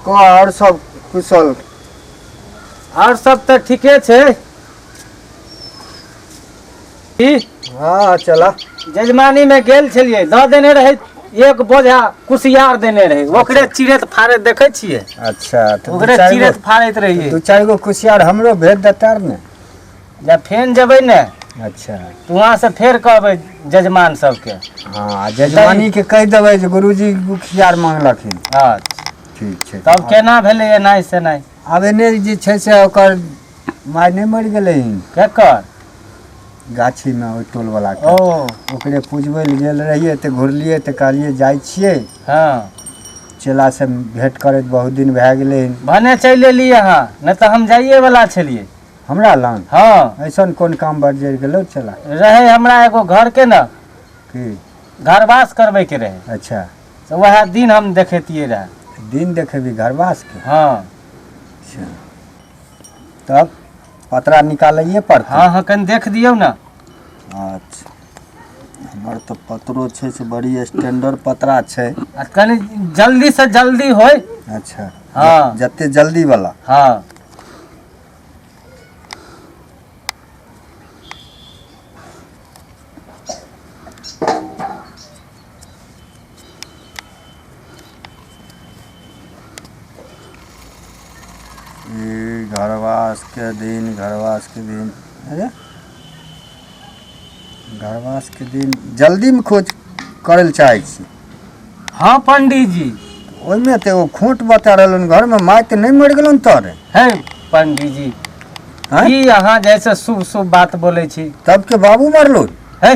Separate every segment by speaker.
Speaker 1: को आओर सब कुशल आओर
Speaker 2: सब तऽ ठीके छै
Speaker 1: की हँ चलऽ जजमानी मे
Speaker 2: गेल छलियै दऽ देने रहै एक बोझा कुसियार देने रहै ओकरे चिड़ैत फाड़ैत देखै छियै अच्छा तऽ दू ओकरे
Speaker 1: चारि चिड़ैत गो फाड़ैत
Speaker 2: रहियै दू चारि गो कुसियार
Speaker 1: हमरो भेज देता ने जब फेन
Speaker 2: जेबै ने अच्छा तऽ
Speaker 1: वहाँ से फेर
Speaker 2: कहबै जजमान सबके हँ आ
Speaker 1: जजमानीके कहि देबै जे गुरुजी कुसियार मांगलखिन हँ ठीक
Speaker 2: छै तब
Speaker 1: केना भेलै एनाइ
Speaker 2: सेनाइ आब एने जे छै
Speaker 1: से ओकर माय नहि मरि गेलै हन केकर गाछीमे ओहि टोलवला के ओ ओकरे
Speaker 2: पुजबै
Speaker 1: लए गेल रहियै तऽ घुरलियै तऽ कहलियै जाइ छियै हँ
Speaker 2: चेला
Speaker 1: से भेंट करैत बहुत दिन भए गेलै हन भने चलि एली
Speaker 2: अहाँ नहि तऽ हम जाइए वाला छलियै हमरा लग
Speaker 1: हँ ऐसन कोन
Speaker 2: काम
Speaker 1: बजरि गेलौ चेला रहै हमरा एगो
Speaker 2: घरके ने की
Speaker 1: घरवास
Speaker 2: करबैके रहै अच्छा तऽ वएह
Speaker 1: दिन
Speaker 2: हम देखैतियै रहे दिन देखेबी घरवास
Speaker 1: के हँ अच्छा तब पतरा निकालैए पड़तै हँ हँ कनि देख दियौ
Speaker 2: ने अच्छा
Speaker 1: हमर तऽ पतरो छै से बड़ी स्टैंडर्ड पतरा छै आ कनि
Speaker 2: जल्दी से जल्दी होय अच्छा हँ।
Speaker 1: ज- जते
Speaker 2: जल्दी वाला
Speaker 1: हँ ई घरवास के दिन घरवास के दिन अरे घरवास के दिन जल्दी में खोज करे ले चाहे छी हाँ
Speaker 2: पंडित जी ओहिमे तऽ एगो
Speaker 1: खोट बता रहलन घर में माय तऽ नहि मरि गेलन तोरे है पंडित
Speaker 2: जी हैं? ई
Speaker 1: अहाँ जैसे
Speaker 2: शुभ शुभ बात बोले छी तब के बाबू मरलो
Speaker 1: है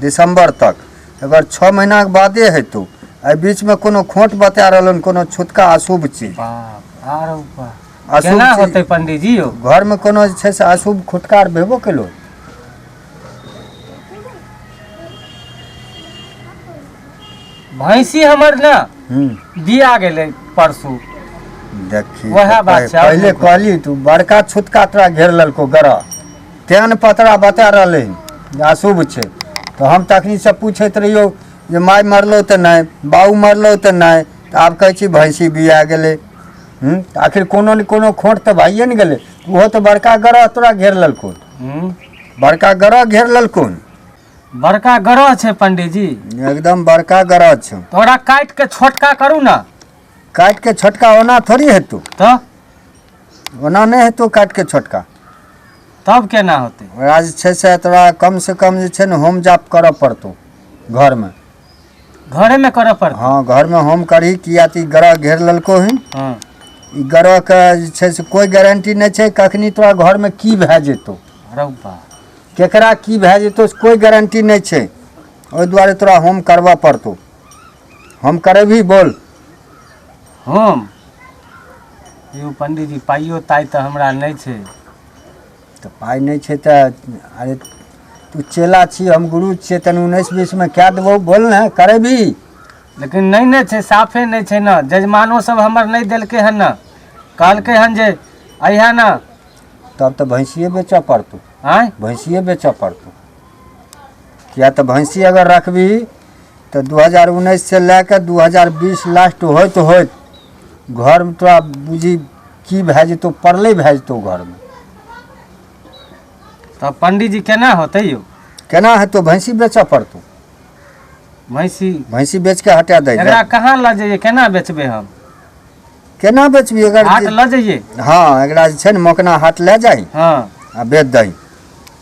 Speaker 1: दिसम्बर तक एकर छओ महीनाके बादे हेतौ एहि बीचमे कोनो खोट बता रहलन कोनो छुटका अशुभ चीज बाप आरो
Speaker 2: बा। अशुभ केना चीज- होतै
Speaker 1: पंडीजी
Speaker 2: यौ घरमे कोनो जे छै से
Speaker 1: अशुभ खुटकार भेबो केलो
Speaker 2: भैंसी हमर ने हूँ दिया गेलै परसू देखी
Speaker 1: वएह बात छै, आओर
Speaker 2: पहिले नहि कहली तू
Speaker 1: बड़का छुटका तोरा घेर लेलको गरह तेहन पतरा बता रहलै जे अशुभ छै तऽ हम तखनीसँ पूछैत रहियौ जे माय मरलौ तऽ नहि बाबू मरलौ तऽ नहि तऽ आब कहै छी भैंसी बिया गेलै हूँ तऽ आखिर कोनो ने कोनो खोट तऽ भइए ने गेलै ओहो तऽ बड़का ग्रह तोरा घेर लेलकौ हम्म। बड़का ग्रह घेर लेलकौ बड़का
Speaker 2: ग्रह छै पंडीजी एकदम बड़का
Speaker 1: ग्रह छौ तोरा काटि के
Speaker 2: छोटका करू ने काटि के
Speaker 1: छोटका ओना थोड़ी हेतौ तऽ ओना नहि हेतौ काटि कऽ छोटका तब
Speaker 2: केना होतै ओकरा जे छै से
Speaker 1: तोरा कमसँ कम जे छै ने होम जाप करऽ पड़तौ घरमे घरेमे
Speaker 2: करऽ पड़तै हँ घरमे होम करही
Speaker 1: किया तऽ ई ग्रह घेर लेलको हन हँ ई
Speaker 2: ग्रहके
Speaker 1: जे छै से कोइ गारंटी नहि छै कखनी तोरा घरमे की भए जेतौ रौ बा
Speaker 2: केकरा की
Speaker 1: भए जेतौ से कोइ गारंटी नहि छै ओहि दुआरे तोरा होम करबऽ पड़तौ हम करेबही बोल
Speaker 2: हम यौ पंडीजी पाइयो ताइ तऽ हमरा नहि छै तऽ
Speaker 1: पाइ नहि छै तऽ अरे तू चेला छी हम गुरु छियै तनि उन्नैस बीसमे कए देबौ बोल ने करेबी लेकिन नहि
Speaker 2: ने छै साफे नहि छै ने जजमानो सब हमर नहि देलकै हन ने कहलकै हन जे अहिया ने तब तऽ
Speaker 1: भैंसिए बेचऽ पड़तौ आँय भैंसिए
Speaker 2: बेचऽ
Speaker 1: पड़तौ किया तऽ भैंसी अगर रखबी तऽ दू हजार उन्नैस से लए कऽ दू हजार बीस लास्ट होइत होइत घरमे तोरा बुझी की भए जेतौ पड़ले भए जेतौ घरमे
Speaker 2: तऽ पंडीजी केना होतै यौ केना हेतौ
Speaker 1: भैंसी बेचऽ पड़तौ भैंसी
Speaker 2: भैंसी बेच के हटा दै एकरा
Speaker 1: कहाँ लऽ जइयै
Speaker 2: केना बेचबै हम केना
Speaker 1: बेचबी अगर हाट लऽ जइयै
Speaker 2: हँ एकरा जे छै
Speaker 1: ने मोकना हाट लए जाही हँ आ बेच
Speaker 2: दही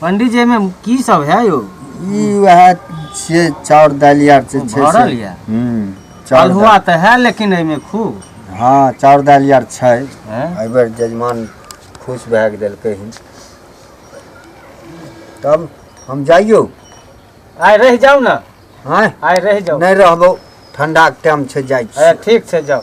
Speaker 2: पंडित जी एहिमे की सब है यौ ई वएह
Speaker 1: छियै चाउर
Speaker 2: दालि
Speaker 1: आर जे छै
Speaker 2: भरल से यऽ? हूँ
Speaker 1: चाउर
Speaker 2: अलहुआ
Speaker 1: दालि तऽ है
Speaker 2: लेकिन एहिमे
Speaker 1: खूब
Speaker 2: हँ
Speaker 1: चाउर दालि आर छै हैं? एहि बेर
Speaker 2: जजमान
Speaker 1: खुश भए गेल देलकै हन तब हम जाइयो आइ
Speaker 2: रहि जाउ ने आँय आइ
Speaker 1: रहि जाउ नहि
Speaker 2: रहबौ
Speaker 1: ठंडाके टाइम छै जाइ अरे छी ठीक छै जाउ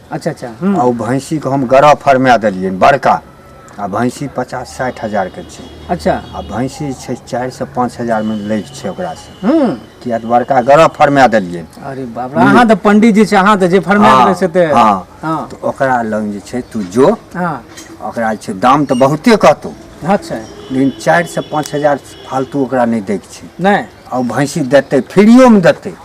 Speaker 1: अच्छा अच्छा
Speaker 3: हूँ आ ओ भैंसीके
Speaker 1: हम गरह फरमा देलियै बड़का आ भैंसी पचास साठि हजारके छै अच्छा आ भैंसी
Speaker 3: छै
Speaker 1: चारिसँ पाँच हजारमे लैके छै ओकरासँ हूँ किया तऽ बड़का गरह फरमा देलियै अरे बाप रे अहाँ
Speaker 3: तऽ पंडित जी छै अहाँ तऽ जे फरमा हँ, देबै से तऽ हँ। हँ तऽ
Speaker 1: ओकरा
Speaker 3: लग जे
Speaker 1: छै तू जो हँ ओकरा
Speaker 3: जे छै
Speaker 1: दाम तऽ बहुते कहतौ अच्छा लेकिन
Speaker 3: चारिसँ
Speaker 1: पाँच हजार फालतू ओकरा नहि दैके छै नहि आ ओ भैंसी
Speaker 3: देतै
Speaker 1: फ्रीओमे देतै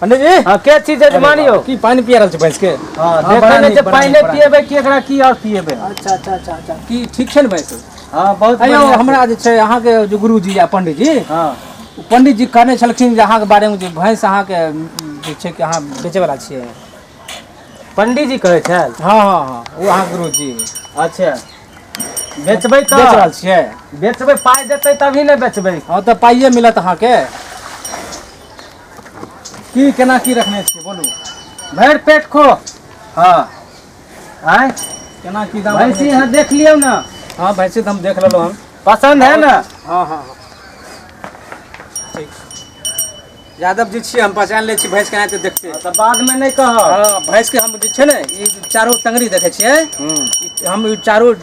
Speaker 2: पंडित जी हँ
Speaker 3: के छी जजमान
Speaker 2: यौ की पानि पिया रहल छी भैंस के हँ, हँ,
Speaker 3: बड़ा देखै नहि नीक, छै बड़ा
Speaker 2: पानि नीक,
Speaker 3: नहि बड़ा
Speaker 2: पियेबै कि
Speaker 3: एकरा
Speaker 2: की
Speaker 3: आओर
Speaker 2: पियेबै हम। अच्छा अच्छा अच्छा अच्छा
Speaker 3: की ठीक छै ने भैंस हँ बहुत अयौ बढ़िआँ
Speaker 2: छै। हमरा जे छै
Speaker 3: अहाँके जे गुरुजी आ पंडीजी हँ ओ पंडीजी
Speaker 2: कहने
Speaker 3: छलखिन जे अहाँके बारेमे जे भैंस अहाँके जे छै कि अहाँ बेचैवला छियै
Speaker 2: पंडीजी कहै छल हँ हँ हँ ओ
Speaker 3: अहाँ गुरुजी अच्छा
Speaker 2: बेचबै तऽ बेच रहल छियै
Speaker 3: बेचबै पाइ
Speaker 2: देतै तभी ने बेचबै हँ तऽ पाइए मिलत
Speaker 3: अहाँके की केना की रखने छियै बोलू भरि पेट
Speaker 2: खो हँ आँय केना की
Speaker 3: दाम भैंसी अहाँ देख लियौ
Speaker 2: ने हँ भैंसी तऽ हम देख
Speaker 3: लेलहुँ हन पसन्द है ने हँ हँ यादव जी छियै हम पहचान लै छी भैंस केना तऽ देखते तऽ बादमे नहि कहब
Speaker 2: हँ भैंसके हम जे
Speaker 3: छै ने ई चारो टंगरी देखै छियै ई- हम ई चारो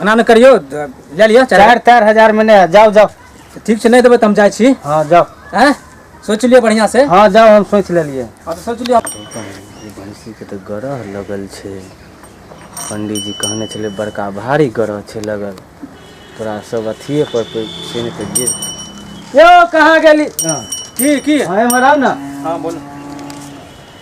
Speaker 2: एना नहि
Speaker 3: करियौ द- लए लिअ चारि चारि तारि हजार मे नहि
Speaker 2: जाउ जाउ ठीक छै नहि देबै तऽ हम
Speaker 3: जाइ छी हँ जाउ आँय सोचि लिअ बढ़िआँ से हँ जाउ हम सोचि लेलियै
Speaker 2: हँ तऽ सोचि लिअ
Speaker 3: भैंसी
Speaker 4: के तऽ गरह लगल छै पंडित जी कहने छलै बड़का भारी गरह छै लगल तोरा सब अथिये पर पे- से नहि तऽ गिर यौ कहाँ गेली
Speaker 2: की की
Speaker 3: हँ एम्हर आउ ने
Speaker 2: हँ बोलू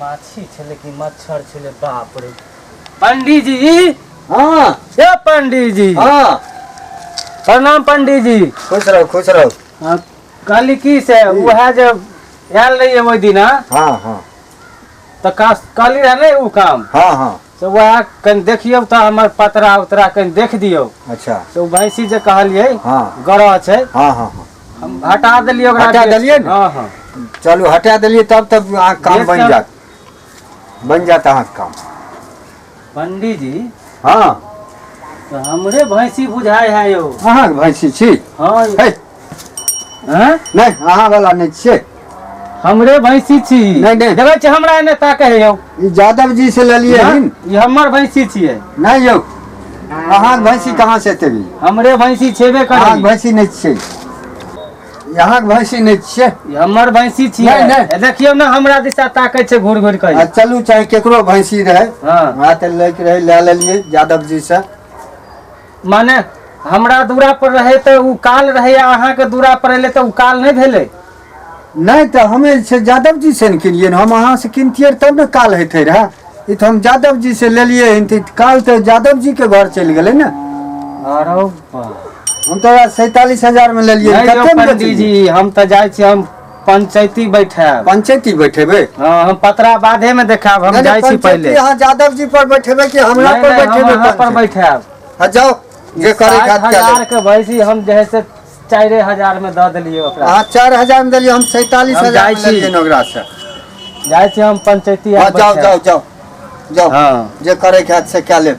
Speaker 4: माछी छलै कि मच्छर छलै बाप रे पंडीजी
Speaker 2: हाँ हे
Speaker 1: पंडीजी
Speaker 2: हाँ
Speaker 1: प्रणाम
Speaker 2: पंडीजी खुश रहू खुश रहू
Speaker 1: हाँ, कहली
Speaker 2: की से उएह जे आयल रहियै ओहि दिना हाँ हाँ तऽ का- कहली रहे ने ओ काम हाँ हाँ से
Speaker 1: वएह कनि
Speaker 2: देखियौ तऽ हमर पतरा उतरा कनि देख दियौ अच्छा से ओ भैंसी
Speaker 1: जे
Speaker 2: कहलियै हँ। गरह
Speaker 1: छै हँ हँ
Speaker 2: हँ
Speaker 1: हम हटा देलियै
Speaker 2: ओकरा हटा बेच- देलियै ने? हँ हँ
Speaker 1: चलू
Speaker 2: हटा देलियै
Speaker 1: तब तब अहाँके काम बेच बनि कऽ- जायत
Speaker 2: बनि
Speaker 1: जायत अहाँके काम
Speaker 2: पंडीजी हँ
Speaker 1: तऽ
Speaker 2: हमरे भैंसी बुझाइ है यौ अहाँके भैंसी छी
Speaker 1: हँ यौ। हे
Speaker 2: हैं? नहीं अहाँ
Speaker 1: वाला नहीं छे हमरे
Speaker 2: भैंसी छी नहीं, नहीं। देखै छी हमरा
Speaker 1: एने ताकै
Speaker 2: है यौ ई यादव जी से
Speaker 1: ले लिए हाँ? हन ई हमर भैंसी
Speaker 2: छियै नहीं यौ
Speaker 1: अहाँ के भैंसी कहाँ से एते भी हमरे भैंसी छेबे
Speaker 2: अहाँ के करै भैंसी नहीं छे
Speaker 1: यहाँ के भैंसी नहीं छे ई हमर भैंसी
Speaker 2: छियै नहीं, नहीं। ए, देखियौ ने
Speaker 1: हमरा
Speaker 2: दिशा ताकै छै घूर घूर आ कऽ चलू चाहे केकरो
Speaker 1: भैंसी रहे हाँ। वहाँ तऽ लैके
Speaker 2: रहे
Speaker 1: लए लेलियै यादव जी से माने
Speaker 2: हमरा दूरा पर रहे तऽ उ काल रहे आ अहाँ के दूरा पर एले तऽ उ काल नहि भेले नहि तऽ
Speaker 1: हमे से यादव जी से ने किनिए हम अहाँ से किनतियै तब ने काल हेतै रहे ई तऽ हम यादव जी से लेलियै हन तऽ काल तऽ यादव जी के घर चलि गेलै ने अरे
Speaker 2: हम तो
Speaker 1: सैतालीस हजार में लेलिए नहीं यौ पंडित
Speaker 2: जी
Speaker 1: हम तो जाए
Speaker 2: छी हम पंचैती बैठायब पंचैती बैठेबै
Speaker 1: हँ हम पतरा
Speaker 2: बादे में देखायब हम जाइ छी पहिले
Speaker 1: अहाँ
Speaker 2: यादव जी
Speaker 1: पर बैठेबै कि हमरा पर बैठेबै अहाँ पर
Speaker 2: बैठायब हँ
Speaker 1: जाउ जे करे खात के हजार के भैंसी
Speaker 2: हम जे से चारि हजार में दऽ देलियै ओकरा अहाँ चारि हजार में देलियै
Speaker 1: हम सैतालीस हजार में लेलियै ओकरा
Speaker 2: से
Speaker 1: जाइ छी हम
Speaker 2: पंचैती
Speaker 1: जाउ जाउ
Speaker 2: जाउ जाउ
Speaker 1: हँ जे करे खात
Speaker 2: से
Speaker 1: कए लेब